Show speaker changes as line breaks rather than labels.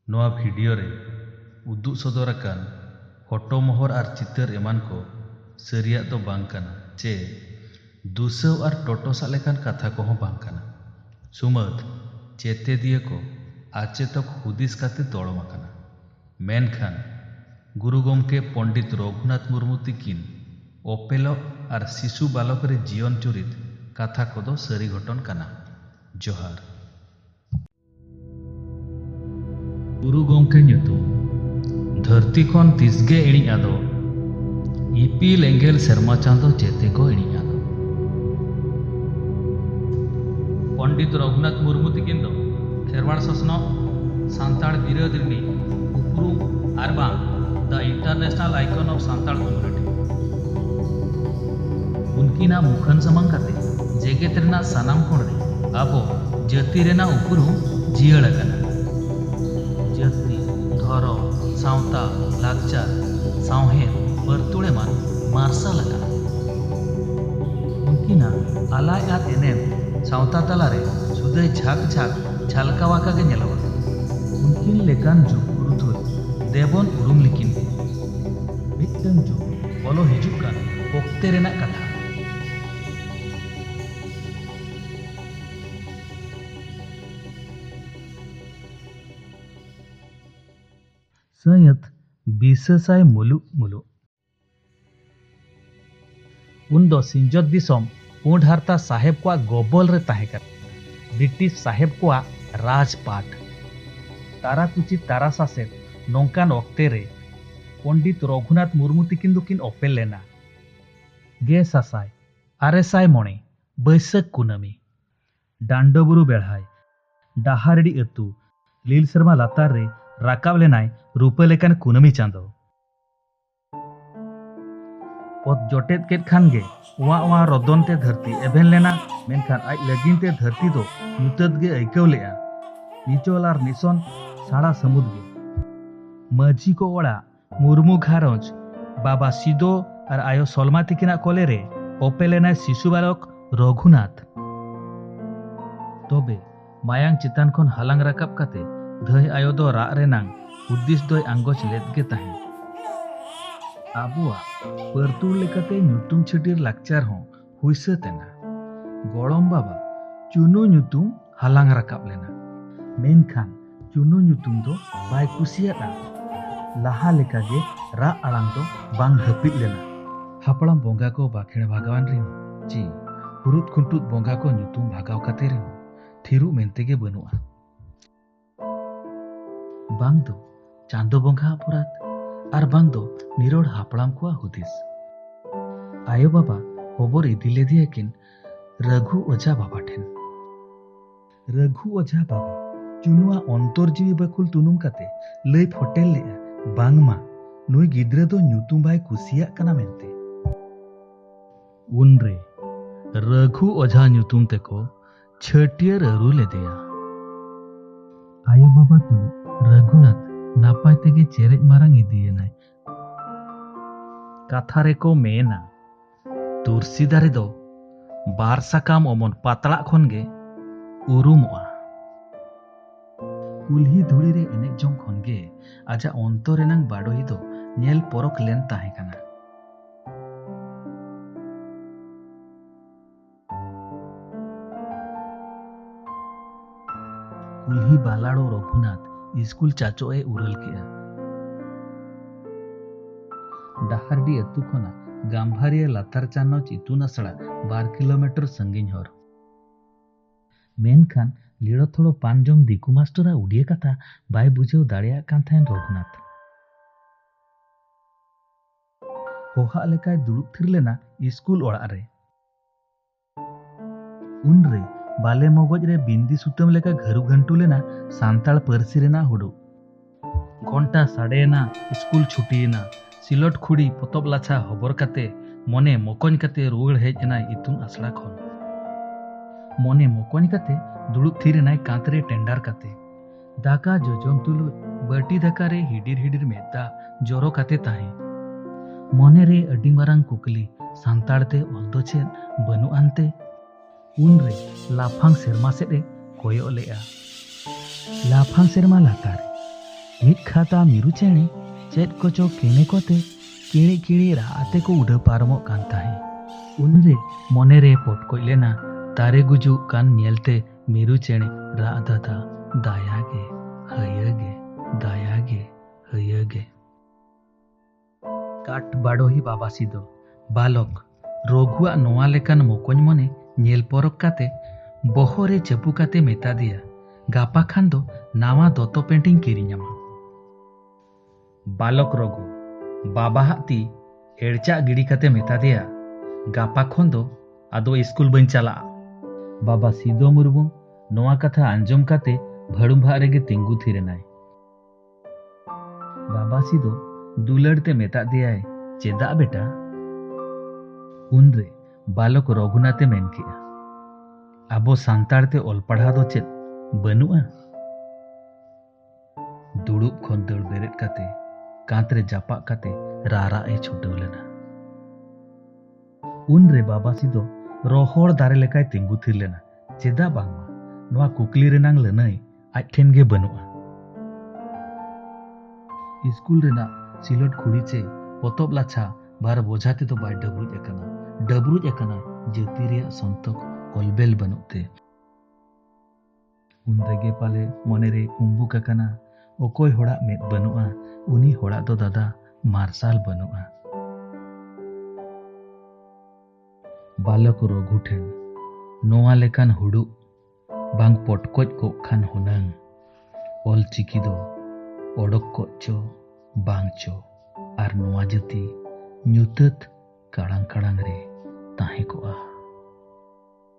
ᱱᱚᱣᱟ ᱵᱷᱤᱰᱤᱭᱳ ᱨᱮ ᱩᱫᱩᱜ ᱥᱚᱫᱚᱨ ᱟᱠᱟᱱ ᱯᱷᱚᱴᱚ ᱢᱚᱦᱚᱨ ᱟᱨ ᱪᱤᱛᱟᱹᱨ ᱮᱢᱟᱱ ᱠᱚ ᱥᱟᱹᱨᱤᱭᱟᱜ ᱫᱚ ᱵᱟᱝ ᱠᱟᱱᱟ ᱪᱮ ᱫᱩᱥᱟᱹᱣ ᱟᱨ ᱴᱚᱴᱚᱥᱟᱜ ᱞᱮᱠᱟᱱ ᱠᱟᱛᱷᱟ ᱠᱚᱦᱚᱸ ᱵᱟᱝ ᱠᱟᱱᱟ᱾ ᱥᱩᱢᱟᱹᱫᱽ ᱪᱮᱛᱮᱫᱤᱭᱟᱹ ᱠᱚ ᱟᱪᱮᱛᱚᱠ ᱦᱩᱫᱤᱥ ᱠᱟᱛᱮ ᱫᱚᱲᱚᱢ ᱟᱠᱟᱱᱟ᱾ ᱢᱮᱱᱠᱷᱟᱱ ᱜᱩᱨᱩ ᱜᱚᱢᱠᱮ ᱯᱚᱱᱰᱤᱛ ᱨᱚᱜᱷᱩᱱᱟᱛᱷ ᱢᱩᱨᱢᱩ ᱛᱤᱠᱤᱱ ᱚᱯᱮᱞᱚᱜ ᱟᱨ ᱥᱤᱥᱩ ᱵᱟᱞᱚᱠ ᱨᱮ ᱡᱤᱭᱚᱱ ᱪᱩᱨᱤᱛ ᱠᱟᱛᱷᱟ ᱠᱚᱫᱚ ᱥᱟᱹᱨᱤ ᱜᱷᱚᱴᱚᱱ ᱠᱟᱱᱟ᱾ ᱡᱚᱦᱟᱨ᱾ ᱜᱩᱨᱩ ᱜᱚᱢᱠᱮ ᱧᱩᱛᱩᱢ ᱫᱷᱟᱹᱨᱛᱤ ᱠᱷᱚᱱ ᱛᱤᱥᱜᱮ ᱤᱬᱤᱡ ᱟᱫᱚ ᱤᱯᱤᱞ ᱮᱸᱜᱮᱞ ᱥᱮᱨᱢᱟ ᱪᱟᱸᱫᱚ ᱪᱮᱛᱮ ᱠᱚ ᱤᱬᱤᱡ ᱟᱫᱚ ᱯᱚᱱᱰᱤᱛ ᱨᱚᱜᱷᱩᱱᱟᱛᱷ ᱢᱩᱨᱢᱩ ᱛᱤᱠᱤᱱ ᱫᱚ ᱠᱷᱮᱨᱣᱟᱲ ᱥᱚᱥᱱᱚᱜ ᱥᱟᱱᱛᱟᱲ ᱵᱤᱨᱟᱹᱫ ᱨᱤᱱᱤᱡ ᱩᱯᱨᱩᱢ ᱟᱨ ᱵᱟᱝ ᱫᱟ international icon of Santal community ᱩᱱᱠᱤᱱᱟᱜ ᱢᱩᱠᱷᱟᱹᱱ ᱥᱟᱢᱟᱝ ᱠᱟᱛᱮ ᱡᱮᱜᱮᱛ ᱨᱮᱱᱟᱜ ᱥᱟᱱᱟᱢ ᱠᱚᱬ ᱨᱮ ᱟᱵᱚ ᱡᱟᱹᱛᱤ ᱨᱮᱱᱟᱜ ᱩᱯᱨᱩᱢ ᱡᱤᱭᱟᱹᱲ ᱟᱠᱟᱱᱟ᱾ ᱡᱟᱹᱛᱤ, ᱫᱷᱚᱨᱚᱢ, ᱥᱟᱶᱛᱟ, ᱞᱟᱠᱪᱟᱨ, ᱥᱟᱶᱦᱮᱫ, ᱯᱟᱹᱨᱛᱩᱲ ᱮᱢᱟᱱ ᱢᱟᱨᱥᱟᱞ ᱟᱠᱟᱱᱟ᱾ ᱩᱱᱠᱤᱱᱟᱜ ᱟᱞᱟᱭ ᱟᱨ ᱮᱱᱮᱢ ᱥᱟᱶᱛᱟ ᱛᱟᱞᱟ ᱨᱮ ᱥᱩᱫᱟᱹᱭ ᱡᱷᱟᱸᱠ ᱡᱷᱟᱸᱠ ᱡᱷᱟᱞᱠᱟᱣ ᱟᱠᱟ ᱜᱮ ᱧᱮᱞᱚᱜᱼᱟ᱾ ᱩᱱᱠᱤᱱ ᱞᱮᱠᱟᱱ ᱡᱩᱜᱽ ᱯᱩᱨᱩᱫᱷᱩᱞ ᱫᱮᱵᱚᱱ ᱩᱨᱩᱢ ᱞᱤᱠᱤᱱ ᱜᱮ᱾ ᱢᱤᱫᱴᱟᱹᱝ ᱡᱩᱜᱽ᱾ ᱵᱚᱞᱚ ᱦᱤᱡᱩᱜ ᱠᱟᱱ ᱚᱠᱛᱮ ᱨᱮᱱᱟᱜ ᱠᱟᱛᱷᱟ᱾ ᱥᱟᱹᱭᱟᱹᱛ ᱵᱤᱥᱟᱹᱥᱟᱭ ᱢᱩᱞᱩᱜ ᱢᱩᱞᱩᱜ᱾ ᱩᱱ ᱫᱚ ᱥᱤᱧᱚᱛ ᱫᱤᱥᱚᱢ᱾ ᱯᱩᱸᱰ ᱦᱟᱨᱛᱟ ᱥᱟᱦᱮᱵᱽ ᱠᱚᱣᱟᱜ ᱜᱚᱵᱚᱞ ᱨᱮ ᱛᱟᱦᱮᱸ ᱠᱟᱱᱟ ᱵᱨᱤᱴᱤᱥ ᱥᱟᱦᱮᱵᱽ ᱠᱚᱣᱟᱜ ᱨᱟᱡᱽᱯᱟᱴ᱾ ᱛᱟᱨᱟᱠᱩᱪᱤ ᱛᱟᱨᱟ ᱥᱟᱥᱮᱛ ᱱᱚᱝᱠᱟᱱ ᱚᱠᱛᱮ ᱨᱮ ᱯᱚᱸᱰᱤᱛ ᱨᱚᱜᱷᱩᱱᱟᱛᱷ ᱢᱩᱨᱢᱩ ᱛᱤᱠᱤᱱ ᱫᱚ ᱠᱤᱱ ᱚᱯᱮᱞ ᱞᱮᱱᱟ᱾ ᱜᱮᱥᱟᱥᱟᱭ ᱟᱨᱮ ᱥᱟᱭ ᱢᱚᱬᱮ ᱵᱟᱹᱭᱥᱟᱹᱠ ᱠᱩᱱᱟᱹᱢᱤ ᱰᱟᱱᱰᱚᱵᱩᱨᱩ ᱵᱮᱲᱦᱟᱭ ᱰᱟᱦᱟᱨᱰᱤ ᱟᱹᱛᱩ ᱞᱤᱞ ᱥᱮᱨᱢᱟ ᱞᱟᱛᱟᱨ ᱨᱮ ᱨᱟᱠᱟᱵ ᱞᱮᱱᱟᱭ ᱨᱩᱯᱟᱹ ᱞᱮᱠᱟᱱ ᱠᱩᱱᱟᱹᱢᱤ ᱪᱟᱸᱫᱚ᱾ ᱚᱛ ᱡᱚᱴᱮᱫ ᱠᱮᱫ ᱠᱷᱟᱱ ᱜᱮ ᱚᱣᱟ ᱚᱣᱟ ᱨᱚᱫᱚᱱ ᱛᱮ ᱫᱷᱟᱹᱨᱛᱤ ᱮᱵᱷᱮᱱ ᱞᱮᱱᱟ ᱢᱮᱱᱠᱷᱟᱱ ᱟᱡ ᱞᱟᱹᱜᱤᱱ ᱛᱮ ᱫᱷᱟᱹᱨᱛᱤ ᱫᱚ ᱧᱩᱛᱟᱹᱛ ᱜᱮ ᱟᱹᱭᱠᱟᱹᱣ ᱞᱮᱜᱼᱟ ᱱᱤᱪᱚᱞ ᱟᱨ ᱱᱤᱥᱚᱱ ᱥᱟᱲᱟ ᱥᱟᱹᱢᱩᱫ ᱜᱮ ᱢᱟᱹᱡᱷᱤ ᱠᱚ ᱚᱲᱟᱜ ᱢᱩᱨᱢᱩ ᱜᱷᱟᱨᱚᱸᱡᱽ ᱵᱟᱵᱟ ᱥᱤᱫᱚ ᱟᱨ ᱟᱭᱳ ᱥᱚᱞᱢᱟ ᱛᱤᱠᱤᱱᱟᱜ ᱠᱚᱞᱮ ᱨᱮ ᱚᱯᱮ ᱞᱮᱱᱟᱭ ᱥᱤᱥᱩ ᱵᱟᱞᱚᱠ ᱨᱚᱜᱷᱩᱱᱟᱛᱷ ᱛᱚᱵᱮ ᱢᱟᱭᱟᱝ ᱪᱮᱛᱟᱱ ᱠᱷᱚᱱ ᱦᱟᱞᱟᱝ ᱨᱟᱠᱟᱵ ᱠᱟᱛᱮ ᱫᱷᱟᱹᱭ ᱟᱭᱳ ᱫᱚ ᱨᱟᱜ ᱨᱮᱱᱟᱝ ᱦᱩᱫᱤᱥ ᱫᱚᱭ ᱟᱸᱜᱚᱪ ᱞᱮᱫ ᱜᱮ ᱛᱟᱦᱮᱸᱫ ᱟᱵᱚᱣᱟᱜ ᱯᱟᱹᱨᱛᱩᱲ ᱞᱮᱠᱟᱛᱮ ᱧᱩᱛᱩᱢ ᱪᱷᱟᱹᱴᱤᱨ ᱞᱟᱠᱪᱟᱨ ᱦᱚᱸ ᱦᱩᱭ ᱥᱟᱹᱛ ᱮᱱᱟ ᱜᱚᱲᱚᱢ ᱵᱟᱵᱟ ᱪᱩᱱᱩ ᱧᱩᱛᱩᱢ ᱦᱟᱞᱟᱝ ᱨᱟᱠᱟᱵ ᱞᱮᱱᱟ ᱢᱮᱱᱠᱷᱟᱱ ᱪᱩᱱᱩ ᱧᱩᱛᱩᱢ ᱫᱚ ᱵᱟᱭ ᱠᱩᱥᱤᱭᱟᱫᱼᱟ ᱞᱟᱦᱟ ᱞᱮᱠᱟᱜᱮ ᱨᱟᱜ ᱟᱲᱟᱝ ᱫᱚ ᱵᱟᱝ ᱦᱟᱹᱯᱤᱫ ᱞᱮᱱᱟ ᱦᱟᱯᱲᱟᱢ ᱵᱚᱸᱜᱟ ᱠᱚ ᱵᱟᱠᱷᱮᱬ ᱵᱷᱟᱜᱟᱣᱟᱱ ᱨᱮᱦᱚᱸ ᱪᱮ ᱦᱩᱨᱩᱫ ᱠᱷᱩᱱᱴᱩᱫ ᱵᱚᱸᱜᱟ ᱠᱚ ᱧᱩᱛᱩᱢ ᱵᱷᱟᱜᱟᱣ ᱠᱟᱛᱮ ᱨᱮᱦᱚᱸ ᱛᱷᱤᱨᱩᱜ ᱢᱮᱱᱛᱮ ᱜᱮ ᱵᱟᱹᱱᱩᱜᱼᱟ ᱵᱟᱝ ᱫᱚ ᱪᱟᱸᱫᱚ ᱵᱚᱸᱜᱟ ᱚᱯᱚᱨᱟᱫ ᱟᱨ ᱵᱟᱝ ᱫᱚ ᱱᱤᱨᱚᱲ ᱦᱟᱯᱲᱟᱢ ᱠᱚᱣᱟᱜ ᱦᱩᱫᱤᱥ ᱟᱭᱳ ᱵᱟᱵᱟ ᱦᱚᱵᱚᱨ ᱤᱫᱤ ᱞᱮᱫᱮᱭᱟ ᱠᱤᱱ ᱨᱟᱹᱜᱷᱩ ᱚᱡᱷᱟ ᱵᱟᱵᱟ ᱴᱷᱮᱱ ᱨᱟᱹᱜᱷᱩ ᱚᱡᱷᱟ ᱵᱟᱵᱟ ᱪᱩᱱᱩᱣᱟ ᱚᱱᱛᱚᱨ ᱡᱤᱣᱤ ᱵᱟᱠᱩᱞ ᱛᱩᱱᱩᱢ ᱠᱟᱛᱮ ᱞᱟᱹᱭ ᱯᱷᱚᱴᱮᱞ ᱞᱮᱜᱼᱟ ᱵᱟᱝᱢᱟ ᱱᱩᱭ ᱜᱤᱫᱽᱨᱟᱹ ᱫᱚ ᱧᱩᱛᱩᱢ ᱵᱟᱭ ᱠᱩᱥᱤᱭᱟᱜ ᱠᱟᱱᱟ ᱢᱮᱱᱛᱮ ᱩᱱᱨᱮ ᱨᱟᱹᱜᱷᱩ ᱚᱡᱷᱟ ᱧᱩᱛᱩᱢ ᱛᱮᱠᱚ ᱪᱷᱟᱹᱴᱭᱟᱹᱨ ᱟᱹᱨᱩ ᱞᱮᱫᱮᱭᱟ ᱟᱭᱳ ᱵᱟᱵᱟ ᱛᱩᱞᱩᱡ ᱨᱟᱹᱜᱷᱩᱱᱟᱛᱷ ᱱᱟᱯᱟᱭ ᱛᱮᱜᱮ ᱪᱮᱨᱮᱡ ᱢᱟᱨᱟᱝ ᱤᱫᱤᱭᱮᱱᱟᱭ ᱠᱟᱛᱷᱟ ᱨᱮᱠᱚ ᱢᱮᱱᱟ ᱛᱩᱨᱥᱤ ᱫᱟᱨᱮ ᱫᱚ ᱵᱟᱨ ᱥᱟᱠᱟᱢ ᱚᱢᱚᱱ ᱯᱟᱛᱲᱟᱜ ᱠᱷᱚᱱ ᱜᱮ ᱩᱨᱩᱢᱚᱜᱼᱟ ᱠᱩᱞᱦᱤ ᱫᱷᱩᱲᱤ ᱨᱮ ᱮᱱᱮᱡ ᱡᱚᱝ ᱠᱷᱚᱱ ᱜᱮ ᱟᱡᱟᱜ ᱚᱱᱛᱚᱨ ᱨᱮᱱᱟᱝ ᱵᱟᱰᱚᱦᱤ ᱫᱚ ᱧᱮᱞ ᱯᱚᱨᱚᱠ ᱞᱮᱱ ᱛᱟᱦᱮᱸ ᱠᱟᱱᱟ ᱩᱞᱦᱤ ᱵᱟᱞᱟᱲᱚ ᱨᱚᱜᱷᱩᱱᱟᱛᱷ ᱤᱥᱠᱩᱞ ᱪᱟᱪᱚ ᱮ ᱩᱨᱟᱹᱞ ᱠᱮᱜᱼᱟ ᱰᱟᱦᱟᱨᱰᱤ ᱟᱹᱛᱩ ᱠᱷᱚᱱᱟᱜ ᱜᱟᱢᱵᱷᱟᱨᱤᱭᱟᱹ ᱞᱟᱛᱟᱨ ᱪᱟᱱᱚᱪ ᱤᱛᱩᱱ ᱟᱥᱲᱟ ᱵᱟᱨ ᱠᱤᱞᱳᱢᱤᱴᱟᱨ ᱥᱟᱺᱜᱤᱧ ᱦᱚᱨ ᱢᱮᱱᱠᱷᱟᱱ ᱞᱤᱲᱚ ᱛᱷᱚᱲᱚ ᱯᱟᱱ ᱡᱚᱢ ᱫᱤᱠᱩ ᱢᱟᱥᱴᱚᱨᱟᱜ ᱩᱰᱤᱭᱟᱹ ᱠᱟᱛᱷᱟ ᱵᱟᱭ ᱵᱩᱡᱷᱟᱹᱣ ᱫᱟᱲᱮᱭᱟᱜ ᱠᱟᱱ ᱛᱟᱦᱮᱸᱱ ᱨᱚᱜᱷᱩᱱᱟᱛᱷ ᱦᱚᱦᱟᱜ ᱞᱮᱠᱟᱭ ᱫᱩᱲᱩᱵ ᱛᱷᱤᱨ ᱞᱮᱱᱟ ᱤᱥᱠᱩᱞ ᱚᱲᱟᱜ ᱨᱮ ᱩᱱᱨᱮ ᱵᱟᱞᱮ ᱢᱚᱜᱚᱡ ᱨᱮ ᱵᱤᱱᱫᱤ ᱥᱩᱛᱟᱹᱢ ᱞᱮᱠᱟ ᱜᱷᱟᱹᱨᱩ ᱜᱷᱟᱹᱱᱴᱩ ᱞᱮᱱᱟ ᱥᱟᱱᱛᱟᱲ ᱯᱟᱹᱨᱥᱤ ᱨᱮᱱᱟᱜ ᱦᱩᱰᱩ ᱜᱷᱚᱱᱴᱟ ᱥᱟᱰᱮᱭᱮᱱᱟ ᱤᱥᱠᱩᱞ ᱪᱷᱩᱴᱤᱭᱮᱱᱟ ᱥᱤᱞᱚᱴ ᱠᱷᱩᱲᱤ ᱯᱚᱛᱚᱵ ᱞᱟᱪᱷᱟ ᱦᱚᱵᱚᱨ ᱠᱟᱛᱮ ᱢᱚᱱᱮ ᱢᱚᱠᱚᱧ ᱠᱟᱛᱮ ᱨᱩᱣᱟᱹᱲ ᱦᱮᱡ ᱮᱱᱟᱭ ᱤᱛᱩᱱ ᱟᱥᱲᱟ ᱠᱷᱚᱱ ᱢᱚᱱᱮ ᱢᱚᱠᱚᱧ ᱠᱟᱛᱮ ᱫᱩᱲᱩᱵ ᱛᱷᱤᱨ ᱮᱱᱟᱭ ᱠᱟᱸᱛ ᱨᱮ ᱴᱮᱱᱰᱟᱨ ᱠᱟᱛᱮ ᱫᱟᱠᱟ ᱡᱚᱡᱚᱢ ᱛᱩᱞᱩᱡ ᱵᱟᱹᱴᱤ ᱫᱟᱠᱟ ᱨᱮ ᱦᱤᱰᱤᱨ ᱦᱤᱰᱤᱨ ᱢᱮᱫ ᱫᱟᱜ ᱡᱚᱨᱚ ᱠᱟᱛᱮ ᱛᱟᱦᱮᱸ ᱢᱚᱱᱮ ᱨᱮ ᱟᱹᱰᱤ ᱢᱟᱨᱟᱝ ᱠᱩᱠᱞᱤ ᱥᱟᱱᱛᱟᱲ ᱛᱮ ᱚᱞ ᱫᱚ ᱪᱮᱫ ᱵᱟᱹᱱᱩᱜ ᱟᱱᱛᱮ ᱩᱱ ᱨᱮ ᱞᱟᱯᱷᱟᱝ ᱥᱮᱨᱢᱟ ᱥᱮᱫ ᱮ ᱠᱚᱭᱚᱜ ᱞᱮᱜᱼᱟ ᱞᱟᱯᱷᱟᱝ ᱥᱮᱨᱢᱟ ᱞᱟᱛᱟᱨ ᱢᱤᱫ ᱠᱷᱟᱛᱟ ᱢᱤᱨᱩ ᱪᱮᱬᱮ ᱪᱮᱫ ᱠᱚᱪᱚ ᱠᱮᱱᱮ ᱠᱚᱛᱮ ᱠᱤᱲᱤ ᱠᱤᱲᱤ ᱨᱟᱜ ᱟᱛᱮ ᱠᱚ ᱩᱰᱟᱹᱣ ᱯᱟᱨᱚᱢᱚᱜ ᱠᱟᱱ ᱛᱟᱦᱮᱸ ᱩᱱᱨᱮ ᱢᱚᱱᱮ ᱨᱮ ᱯᱚᱴᱠᱚᱡ ᱞᱮᱱᱟ ᱫᱟᱨᱮ ᱜᱩᱡᱩᱜ ᱠᱟᱱ ᱧᱮᱞᱛᱮ ᱢᱤᱨᱩ ᱪᱮᱬᱮ ᱨᱟᱜ ᱫᱟᱫᱟ ᱫᱟᱭᱟ ᱜᱮ ᱦᱟᱹᱭᱟᱹ ᱜᱮ ᱫᱟᱭᱟ ᱜᱮ ᱦᱟᱹᱭᱟᱹ ᱜᱮ ᱠᱟᱴ ᱵᱟᱰᱚᱦᱤ ᱵᱟᱵᱟᱥᱤ ᱫᱚ ᱵᱟᱞᱚᱠ ᱨᱚᱜᱷᱩᱣᱟᱜ ᱱᱚᱣᱟ ᱞᱮᱠᱟᱱ ᱢᱚᱠᱚᱧ ᱢᱚᱱᱮ ᱧᱮᱞ ᱯᱚᱨᱚᱠ ᱠᱟᱛᱮ ᱵᱚᱦᱚᱜ ᱨᱮ ᱪᱟᱹᱯᱩ ᱠᱟᱛᱮ ᱢᱮᱛᱟ ᱫᱮᱭᱟ ᱜᱟᱯᱟ ᱠᱷᱟᱱ ᱫᱚ ᱱᱟᱣᱟ ᱫᱚᱛᱚ ᱯᱮᱱᱴᱤᱧ ᱠᱤᱨᱤᱧᱟᱢᱟ ᱵᱟᱞᱚᱠ ᱨᱚᱜᱷᱩ ᱵᱟᱵᱟᱦᱟᱜ ᱛᱤ ᱮᱲᱪᱟᱜ ᱜᱤᱰᱤ ᱠᱟᱛᱮ ᱢᱮᱛᱟ ᱫᱮᱭᱟ ᱜᱟᱯᱟ ᱠᱷᱚᱱ ᱫᱚ ᱟᱫᱚ ᱤᱥᱠᱩᱞ ᱵᱟᱹᱧ ᱪᱟᱞᱟᱜᱼᱟ ᱵᱟᱵᱟ ᱥᱤᱫᱚ ᱢᱩᱨᱢᱩ ᱱᱚᱣᱟ ᱠᱟᱛᱷᱟ ᱟᱸᱡᱚᱢ ᱠᱟᱛᱮ ᱵᱷᱟᱹᱲᱩᱢᱵᱷᱟᱜ ᱨᱮᱜᱮ ᱛᱤᱸᱜᱩ ᱛᱷᱤᱨ ᱮᱱᱟᱭ ᱵᱟᱵᱟ ᱥᱤᱫᱚ ᱫᱩᱞᱟᱹᱲ ᱛᱮ ᱢᱮᱛᱟ ᱫᱮᱭᱟᱭ ᱪᱮᱫᱟᱜ ᱵᱮᱴᱟ ᱩᱱᱨᱮ ᱵᱟᱞᱚᱠ ᱨᱚᱜᱷᱩᱱᱟᱛᱷ ᱮ ᱢᱮᱱ ᱠᱮᱜᱼᱟ ᱟᱵᱚ ᱥᱟᱱᱛᱟᱲ ᱛᱮ ᱚᱞ ᱯᱟᱲᱦᱟᱣ ᱫᱚ ᱪᱮᱫ ᱵᱟᱹᱱᱩᱜᱼᱟ ᱫᱩᱲᱩᱵ ᱠᱷᱚᱱ ᱫᱟᱹᱲ ᱵᱮᱨᱮᱫ ᱠᱟᱛᱮ ᱠᱟᱸᱛ ᱨᱮ ᱡᱟᱯᱟᱜ ᱠᱟᱛᱮ ᱨᱟᱨᱟᱜ ᱮ ᱪᱷᱩᱴᱟᱹᱣ ᱞᱮᱱᱟ ᱩᱱᱨᱮ ᱵᱟᱵᱟᱥᱤ ᱫᱚ ᱨᱚᱦᱚᱲ ᱫᱟᱨᱮ ᱞᱮᱠᱟᱭ ᱛᱤᱸᱜᱩ ᱛᱷᱤᱨ ᱞᱮᱱᱟ ᱪᱮᱫᱟᱜ ᱵᱟᱝᱢᱟ ᱱᱚᱣᱟ ᱠᱩᱠᱞᱤ ᱨᱮᱱᱟᱝ ᱞᱟᱹᱱᱟᱹᱭ ᱟᱡ ᱴᱷᱮᱱ ᱜᱮ ᱵᱟᱹᱱᱩᱜᱼᱟ ᱤᱥᱠᱩᱞ ᱨᱮᱱᱟᱜ ᱥᱤᱞᱚᱴ ᱠᱷᱩᱲᱤ ᱪᱮ ᱯᱚᱛᱚᱵ ᱞᱟᱪᱷᱟ ᱵᱟᱨ ᱵᱚᱡᱷᱟ ᱛᱮᱫᱚ ᱵᱟᱭ ᱰᱟᱹᱵᱽᱨᱩᱡ ᱟᱠᱟᱱᱟ ᱰᱟᱹᱵᱽᱨᱩᱡ ᱟᱠᱟᱱᱟ ᱡᱟᱹᱛᱤ ᱨᱮᱭᱟᱜ ᱥᱚᱱᱛᱚᱠ ᱚᱞᱵᱮᱞ ᱵᱟᱹᱱᱩᱜ ᱛᱮ ᱩᱱ ᱨᱮᱜᱮ ᱯᱟᱞᱮ ᱢᱚᱱᱮᱨᱮ ᱠᱩᱢᱵᱩᱠ ᱟᱠᱟᱱᱟ ᱚᱠᱚᱭ ᱦᱚᱲᱟᱜ ᱢᱮᱫ ᱵᱟᱹᱱᱩᱜᱼᱟ ᱩᱱᱤ ᱦᱚᱲᱟᱜ ᱫᱚ ᱫᱟᱫᱟ ᱢᱟᱨᱥᱟᱞ ᱵᱟᱹᱱᱩᱜᱼᱟ ᱵᱟᱞᱚᱠ ᱨᱚᱜᱷᱩ ᱴᱷᱮᱱ ᱱᱚᱣᱟ ᱞᱮᱠᱟᱱ ᱦᱩᱲᱩᱜ ᱵᱟᱝ ᱯᱚᱴᱠᱚᱡ ᱠᱚᱜ ᱠᱷᱟᱱ ᱦᱩᱱᱟᱹᱝ ᱚᱞ ᱪᱤᱠᱤ ᱫᱚ ᱚᱰᱚᱠ ᱠᱚᱜ ᱪᱚ ᱵᱟᱝ ᱪᱚ ᱟᱨ ᱱᱚᱣᱟ ᱡᱟᱹᱛᱤ ᱧᱩᱛᱟᱹᱛ ᱠᱟᱲᱟᱝ ᱠᱟᱲᱟᱝ ᱨᱮ ᱛᱟᱦᱮᱸ ᱠᱚᱜᱼᱟ